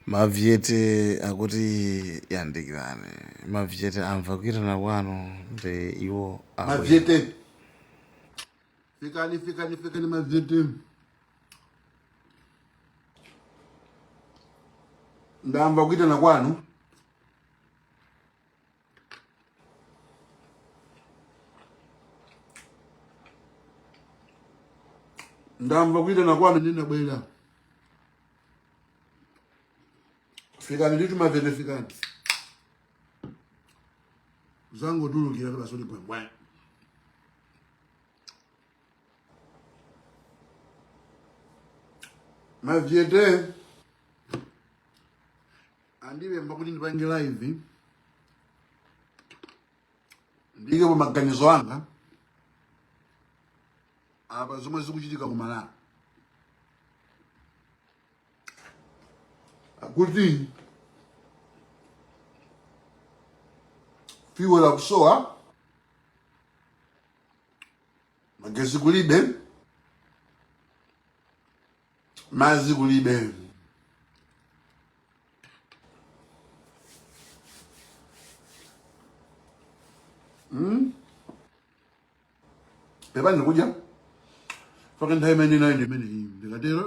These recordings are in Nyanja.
Mavyete akuti yandikirani. Mavyete amva kuitana kwanu ndi iwo abwera. Mavyete. Fikani, fikani, fikani mavyete. Ndamva kuitana kwanu. ndamva kuyitana kwanu ndinabwera fikani nditu mavene fikani zangotulukira kuti basoti bwembwe mavyete andipempha kuti ndipange live ndikepo maganizo anga apa zomwe zikuchitika ku malawi akuti fuel akusowa magezi kulibe madzi kulibe Mm? pepani ndikudya faka nthawi imene inayo ndi imene iyi ndikatero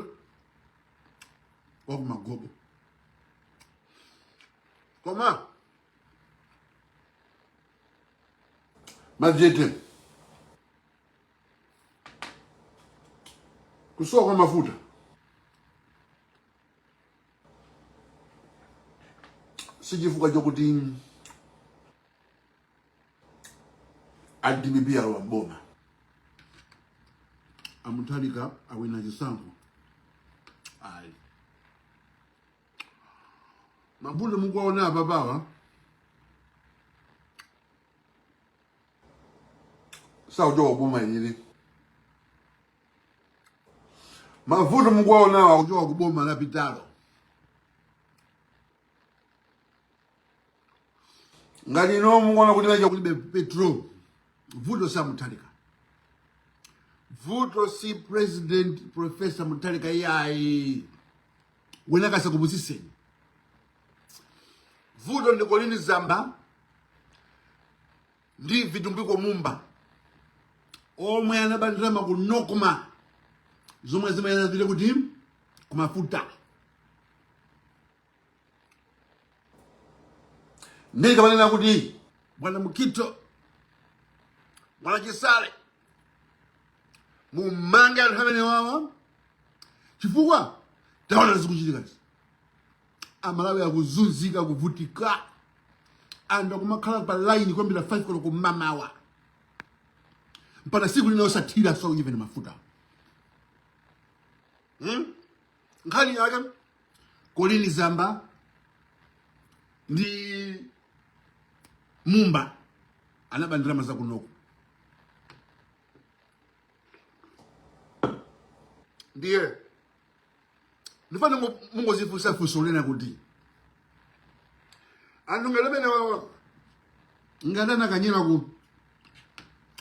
wakumagobo koma madzi ete kusowa kwa mafuta si chifukwa chokuti a dpp alowa mboma amutharika awina chisankho ayi mavuto mukuwaona apapawa sakuchoka kuboma ili mavuto mukuwaonawa akuchoka kuboma lapitalo ngati inu mukuona kuti vacha kulibe petrol vuto si amutharika vuto si president professor mutharika iyayi wina asakupusiseni vuto ndi colleen zamba ndi vitumbiko mumba omwe anaba ndalama ku nocma zomwe zimayenera zipite kuti kumafuta ndikamanena kuti bwana mukhito bwana chisale mumange anthu amenewawa chifukwa taona zikuchitikazi amalawi akuzunzika kuvutika anthu akumakhala pa line kuyambira 5 koloko mmamawa mpaka siku lina osathira so even mafuta hmm? nkhani yake colleen zamba ndi mumba anaba ndalama za ku nocma ndiye ndifuna mungozifunsa funso lina kuti anthu ngati amenewawa ngati anakanyera ku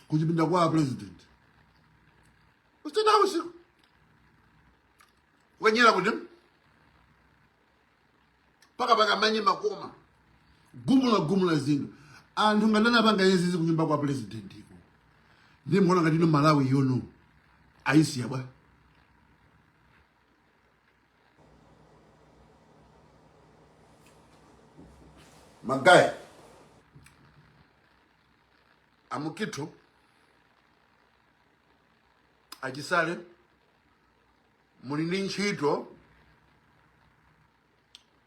kuchipinda kwa president usitena usiku kukanyera kuti paka paka manye makoma gumula gumula zinthu anthu ngati anapanga izi zikunyumba kwa president iko ndikuona ngati ino malawi yono ayisiya a bwana Magayi a Mukhito a Chisale muli ndi ntchito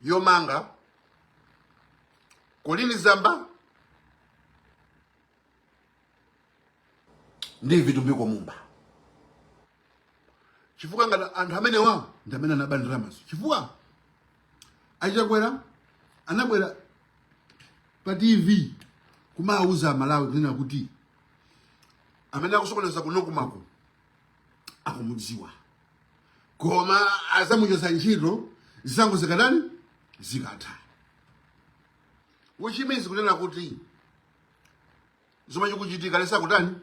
yomanga Colleen Zamba ndi Vitumbiko Mumba chifukwa ngati anthu amene wawo ndi amene anaba ndalamazo chifukwa achakwera anabwera pa tv kumawuza amalawi kunena kuti amene akusokoneza ku NOCMA-ko akumudziwa koma azamuchotsa ntchito zisankho zikatani zikatha which means kunena kuti chomwe chikuchitika ali sa kutani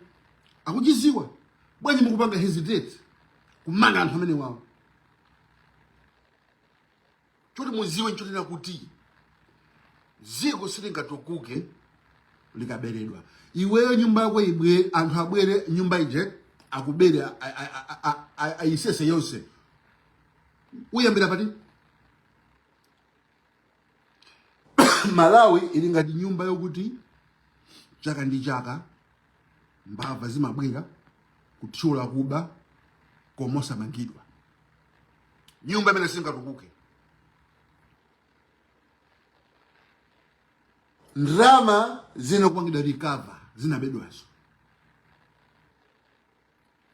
akuchiziwa bwanji mukupanga hesitate kumanga anthu amene wawo Choti muziwe nchonena kuti ziko silingatukuke likaberedwa. Iweyo nyumba yako iwe, anthu abwere nyumba ije akubere a- a- a- a- a- a- ayisese yonse. Uyambira pati? Malawi ili ngati nyumba yokuti chaka ndi chaka mbava zimabwera kuthyola kuba komosamangidwa. nyumba imene singatukuke ndrama zinakapangidwa recover zinabedwazo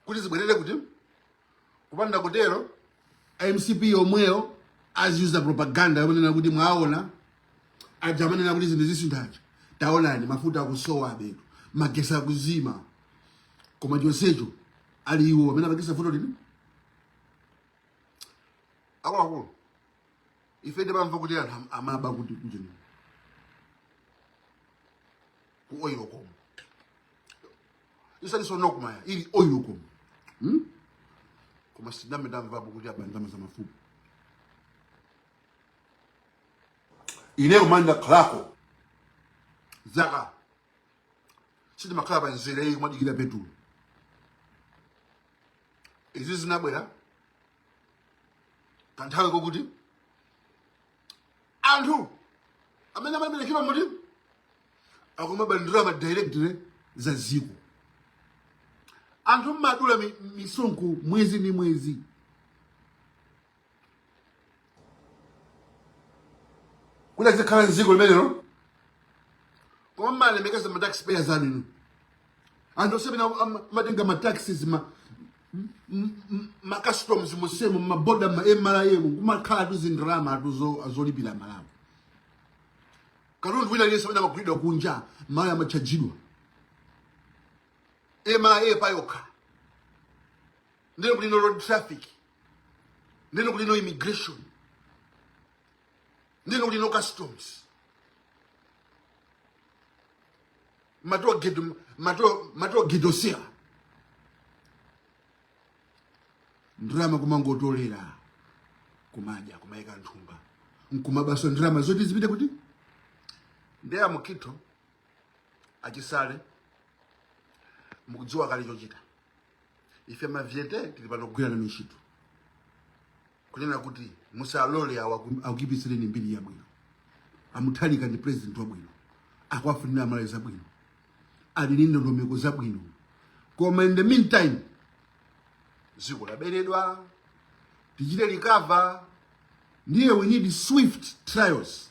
kuti zibwerere kuti kupanda kutero mcp yomweyo aziuza propaganda yomanena kuti mwaona aja amanena kuti zinthu zisintha aja taonani mafuta akusowa apetu magesi akuzima koma chonsecho ali iwo amene apangisa vuto lino akuluakulu ife timamva kuti anthu am- amaba kuti ku ujeni ku Oilcom isali NOCMA-yi ili Oilcom hmm? koma sinambe ndamvapo kuti aba ndalama za mafuta ine kuma ndakhalako zaka sindimakhala pa mzere ayi kumadikira petulo izi zinabwera kanthawi kakuti anthu amene amaberekera muti akumabandi ma director za ziko anthu mmadula mi- misonkho mwezi ndi mwezi kuti azikhala mdziko limenelo koma mumalemekeza ma tax payers anuwo inu anthu ovutika amene amatenga ma taxes ma ma customs monsemu ma border ma MRA mu kumakhala tu ndalama zolipira malawi katundu wina aliyense amene amagulidwa kunja amatchajidwa MRA payokha ndiye kuli no road traffic ndiye kuli no immigration ndiye kuli no customs ma toll gate ma toll ma toll gate onsewa ndalama kumangotolera kumadya kumayika mthumba nkumabaso ndalama zoti zipite kuti ndiye a Mukhito a Chisale mukudziwa kale chochita ife mavyeti tili pano kugwira nanu ntchito kunena kuti musalole awa ku- akuyipitsireni mbiri yabwino a Mutharika ndi president wabwino akuwafunira amalawi zabwino ali ndi ndondomeko zabwino koma in the meantime dziko laberedwa tichite recover ndiye we need swift trials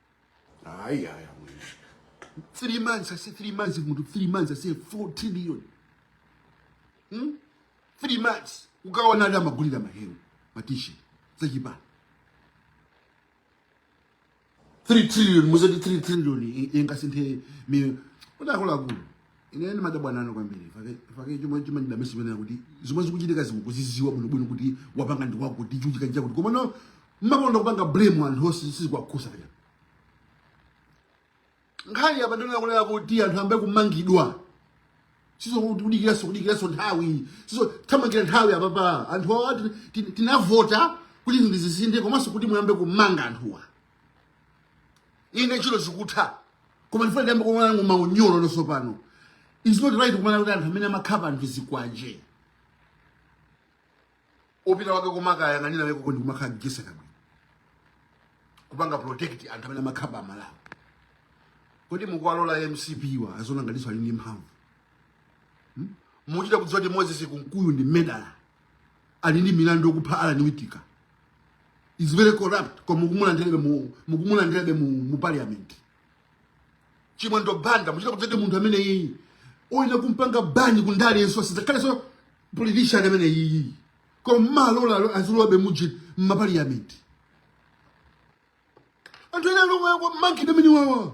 ayi ayi three months ase three months munthu three months ase four trillion hmm? three months ukaona anthu amagulira mahewu ma T-shirt zachipani three trillion muzati three trillion ingasinthe miyoyo akuluakulu ine ndimadabwa nanu kwambiri chifukwa chake chomwe chimene ndimanena kuti zomwe zikuchitika inu mukuzidziwa bwino bwino kuti wapanga ndi wakuti chachitika chakuti koma no mumakonda kupanga blame anthu oti sizikuwakhudza pena nkhani apa ndikunena kunena kuti anthu ayambe kumangidwa sizo kuti kudikiranso kudikiranso nthawi sizo tamangani nthawi apapa anthu awa tin- tin- tinavota kuti zinthu zisinthe komanso kuti muyambe kumanga anthuwa ine ntchito zikutha koma ndifuna ndiyambe kumaona maunyolo tsopano is not right kumaona kuti anthu amene amakhapa anthu zikwanje mupita uko kumakayang'anira uko ndikumakhala mukuseka bwino kupanga protect anthu amene amakhapa amalawi kodi mukuwalola mcp wa aziona ngatinso ali ndi mphamvu Hmm? muchita kudziwa kuti moses kunkuyu ndi murderer ali ndi milandu yokupha Alan Wittika is very corrupt koma mukumulandirabe mu mukumulandirabe mu, mu parliament chimwendo banda muchita kudziwa kuti munthu amene iyi oyenera kumpanga ban kundale ndiyenso asizakhalenso politician amene iyi koma amalola azilowabe muji mu paliyamenti anthu ena oyenera kumangidwa ndi amene wawa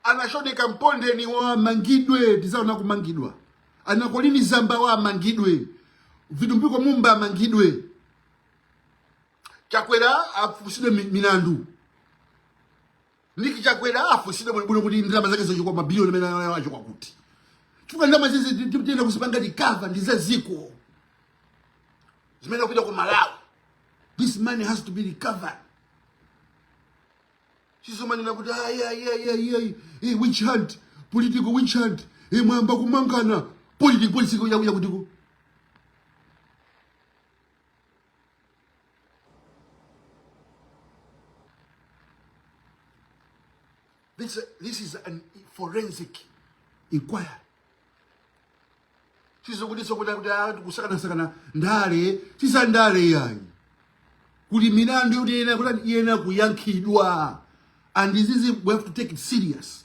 anaChodeka Mpondeni awa amangidwe tizaona kumangidwa anaColleen Zamba awa amangidwe Vitumbiko Mumba amangidwe chakwera afunsidwe mi- milandu Nick Chakwera afunsidwe bwinobwino kuti ndalama zake zochuluka mabiliyoni amene anayo achoka kuti chifukwa ndalama izizi ti- ti- tiyenera kuzipanga recover ndi za dziko zimayenera kupita kwa aMalawi this money has to be recovered sizomanena kuti ayayayayayi witch hunt political witch hunt eh, mwamba kumanena political political yakuya kutiko This, this is a forensic inquiry. Tizokudisa kuda kuda kusakana sakana ndale tisa ndale yayi kuti milandu yoti yena kuti yena kuyankhidwa and this is we have to take it serious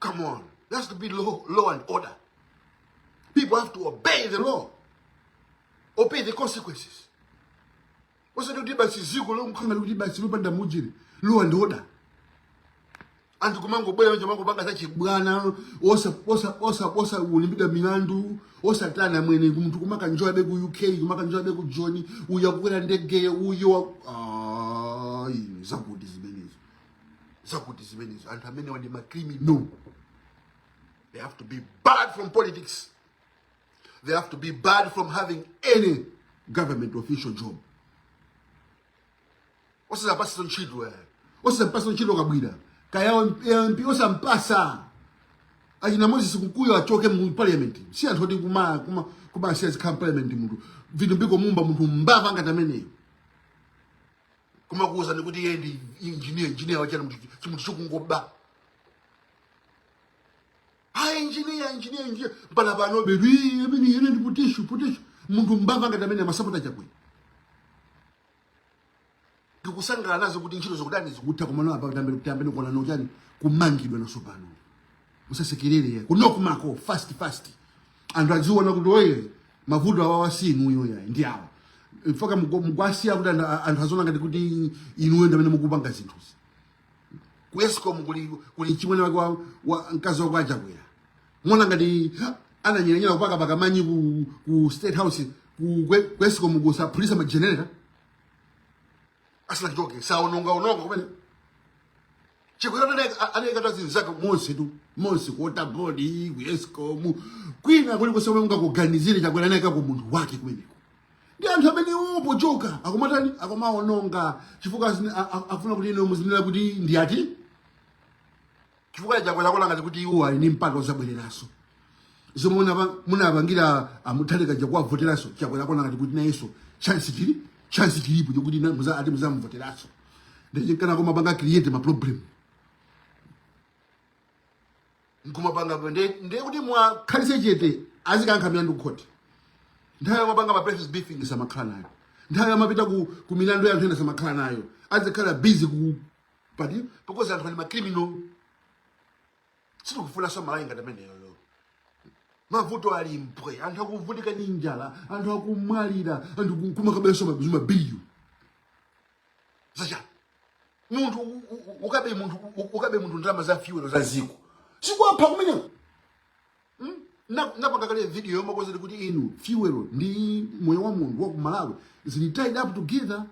Come on. There has to be law, law and order. People have to obey the law. Or bear the consequences. osati kuti basi dziko longokhala lokuti basi lopanda mujiri law and order anthu kumangobwera kumangopanga zachibwana osaimbidwa milandu osatani mmene munthu kumakanjoyabe ku uk kumakanjoyabe ku Joni uyo akukwera ndegeyo uyo wa- Ah, inu, zakuti zimenezo zakuti zimenezo anthu amenewa ndi macriminal they have to be barred from politics they have to be barred from having any government official job osazawapatsa ntchito eh. osazampatsa ntchito kabwira kaya mp osampatsa achina Moses Kunkuyu achoke mu parliament si anthu oti kuma kuma kumawasiya azikhala mu parliament munthu Vitumbiko Mumba munthu mbava ngati ameneyo kumakuwuzani kuti iye ndi injiniya injiniya wachani munthu chimunthu chongoba ayi injiniya injiniya injiniya mpaka pano bedu "Ii, ameneyi ndi putishu putishu munthu mbava ngati amene amasapota chakwera tikusangalala nazo kuti ntchito zikutani zikutha kumano apa tiyambe tiyambe kuona onyozani kumangidwa nawonso pano musasekerere kunoko mako fast fast anthu adziona kuti oye mavuto awawa si inuyo yayi ndi awa mpaka mukuwa- mukuwasiya kuti anthu a- anthu aziona ngati kuti inuyo ndi amene mukupanga zinthuzi ku escom kuli kuli chimwene wake wa, wa mkazi wake wa Chakwera mwaona ngati ananyeranyera kupakapaka manyi ku, ku state house ku, kwe- ku escom kukaphulitsa magenerator asinachoke anaonongaononga kumene Chakwera anaika azinzake monsetu monse ku water board ku escom kwina kulikonse mungakuganizire chakwera anayikako munthu wake kumeneko ndi anthu amene popochoka akumatani akumaononga chifukwa asini- a- a- akufuna kuti inu muzinena kuti ndi ati chifukwa chakwera akuganiza kuti iwo ali ndi mpata ozabwereranso zomwe munapa- munapangira a Mutharika chakuwavoteranso chakwera akuona ngati kuti nayenso chance chili chance chilipo chokuti na- muza- ati muzamuvoteranso ndichinkana komapanga create ma problem nkumapanga nde- ndiye kuti mwakhalitse chete azikayankha milandu kukhoti nthawi yomapanga ma press briefing samakhala nayo nthawi yomapita ku, ku milandu ya anthu ena samakhala nayo azikhala busy ku party because anthu ali ma criminal sitikufunanso malawi ngati ameneyoyo mavuto ali mpwe anthu akuvutika ndi njala anthu akumwalira anthu ku- kumakabenso mabi- mabiliyoni zacha munthu u- u- u- ukabe munthu u- u- ukabe munthu ndalama za fyuwelo za ziko sikuwapha kumeneko Ndinapanga kale video yomakuuzani kuti inu fyuwelo ndi moyo wa munthu wa kumalawi zili tied up together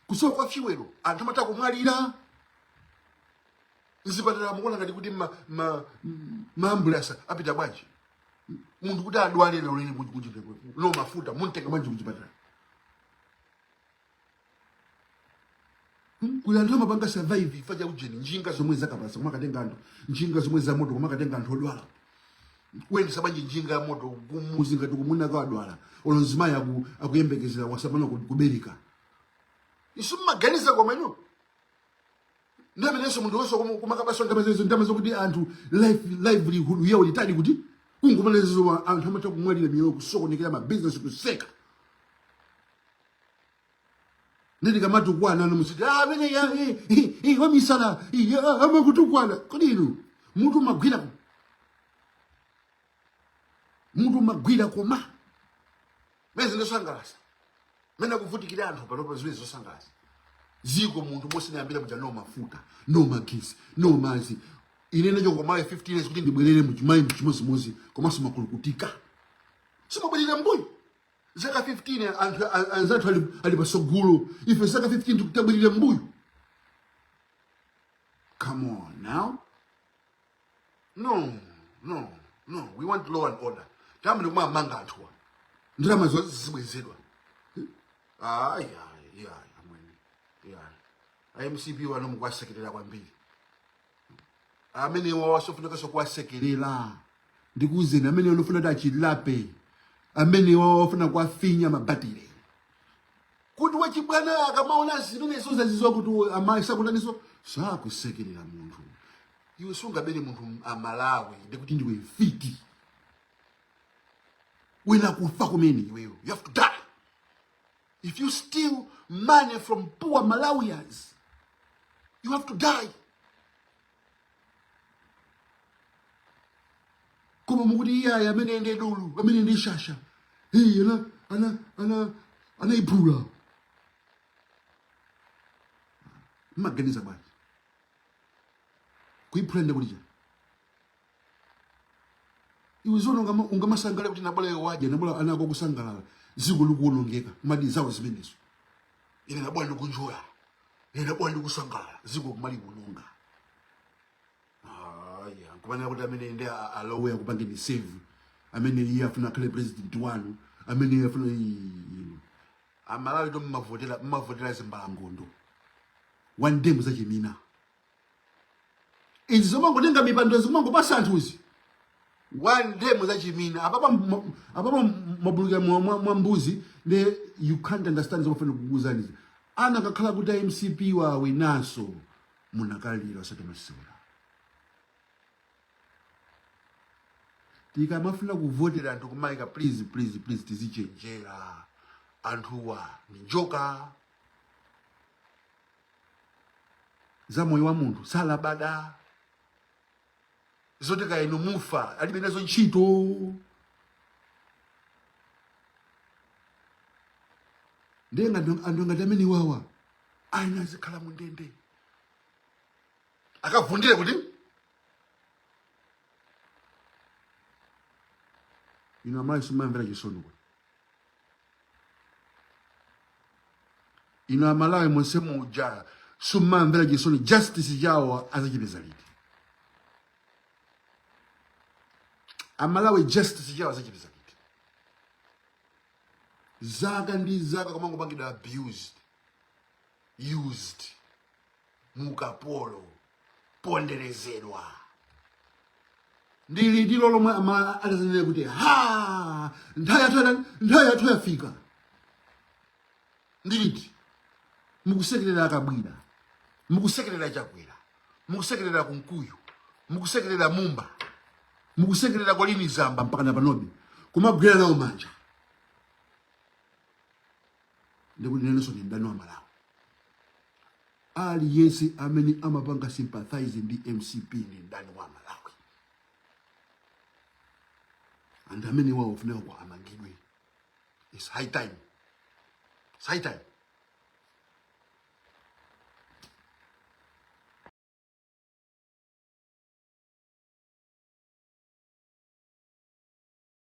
kusowa kwa fyuwelo anthu amatha kumwalira mzipatala mukuona ngati kuti ma- ma- m- maambulansi apita bwanji munthu kuti adwale lero lini kuti- kuti kuti- no mafuta mumtenga bwanji kuchipatala kuli anthu amapanga survive chifukwa cha ujeni njinga zomwe zakapalasa kumakatenga anthu njinga zomwe za moto kumakatenga anthu odwala kuyendesa bwanji njinga ya moto kumuzi ngati mwamuna akadwala olo mzimayi aku- akuyembekezera watsala pang'ono ku- kubereka inu mumaganiza koma inu nde pamenenso munthu wonse kumu- kumakabaso ndamazezo ndamazo kuti anthu life- livelihood yawo ili tied kuti kungomana zimenezo anthu amatha kumwalira miyoyo kusokonekera mabizinesi kutseka nde tikamatukwana inu muziti ah amene uja eh eh, eh wa misala eh amakutukwana kodi inu mutu umagwira mutu umagwira koma mmayesa ndosangalasa mene akuvutikira anthu panopa zimenezi zosangalasa ziko munthu momwe zinayambira muja no mafuta no magesi no mazi ine ndinachoka kumayiko 15 years kuti ndibwerere muchima- muchimozimozi komanso makamaka timabwerera mbuyo zaka 15 anthu a- anzathu ali, ali pasogolo ife zaka 15 tikubwerera mbuyo come on now no no no we want law and order tiyambe ndikumawamanga anthuwa ndalama zonse zizibwezedwa ayi ayi ayi amwene ayi a MCP awa inu mukuwasekerera kwambiri amenewa osafunikaso kuwasekerera ndikuuzeni amenewa ndi ofuna kuti achilape amenewa akufuna kuwafinya mabatire kuti wachibwana akamaona zimenezo aziziwa kuti amayi sakutaniso sakusekerera munthu iwe sungabere munthu m- amalawi ndikuti ndiwe mfiti uyenera kufa kumene iweyo you have to die if you steal money from poor malawians you have to die koma mukuti iyayi amene ndi dolo amene ndi shasha iye ana ana ana anayiphula mmaganiza bwanji kuiphula ndi kuti chani iwe zoona ungama- ungamasangalale kuti nabola iwe wadya nabola ana ako akusangalala dziko likuwonongeka kumati zawo zimenezo ine nabola ndikunjoya ine nabola ndikusangalala dziko kumali kuwononga aya kumanena kuti amene ndi a- alowe akupangeni save amene iye afuna akhale president wanu amene iye afuna ii, inu. amalawitu mmavotera mmavotera zimbalangondo one day muzachimina izi zomangotenga mipando zimangopasa anthuzi one day muzachimina apapa mma- apapa mabulukira mwa- mwa mwa mbuzi ne you can't understand zomafuna kukuuzanizi anakakhala kuti a mcp wawinaso munakalira osati masewera tikamafuna kuvotera anthu kumayika please please please tizichenjera anthuwa ndi njoka za moyo wa munthu salabada zoti kaya inu mufa alibe nazo ntchito ndiye ngati anthu ngati amenewawa ayenera azikhala mu ndende akavundire kuti inu amayi sumamvera chisoni kuti inu amalawi monse muja sumamvera chisoni justice chawo azachipeza liti amalawi justice chawo azachipeza liti zaka ndi zaka kumangopangidwa abused used mu ukapolo ponderezedwa ndi litilo lomwe amalawi atazanene kuti ha nthawi yathu yakwana nthawi yathu yafika ndi liti mukusekerera kabwila mukusekerera chakwera mukusekerera kunkuyu mukusekerera mumba mukusekerera colleen zamba mpaka na panobe kumagwira nawo manja ndikunenenso ndi mdani wa malawi aliyense amene amapanga sympathize ndi mcp ndi mdani wa malawi and amenewo ofunika kuti amangidwe its high time its high time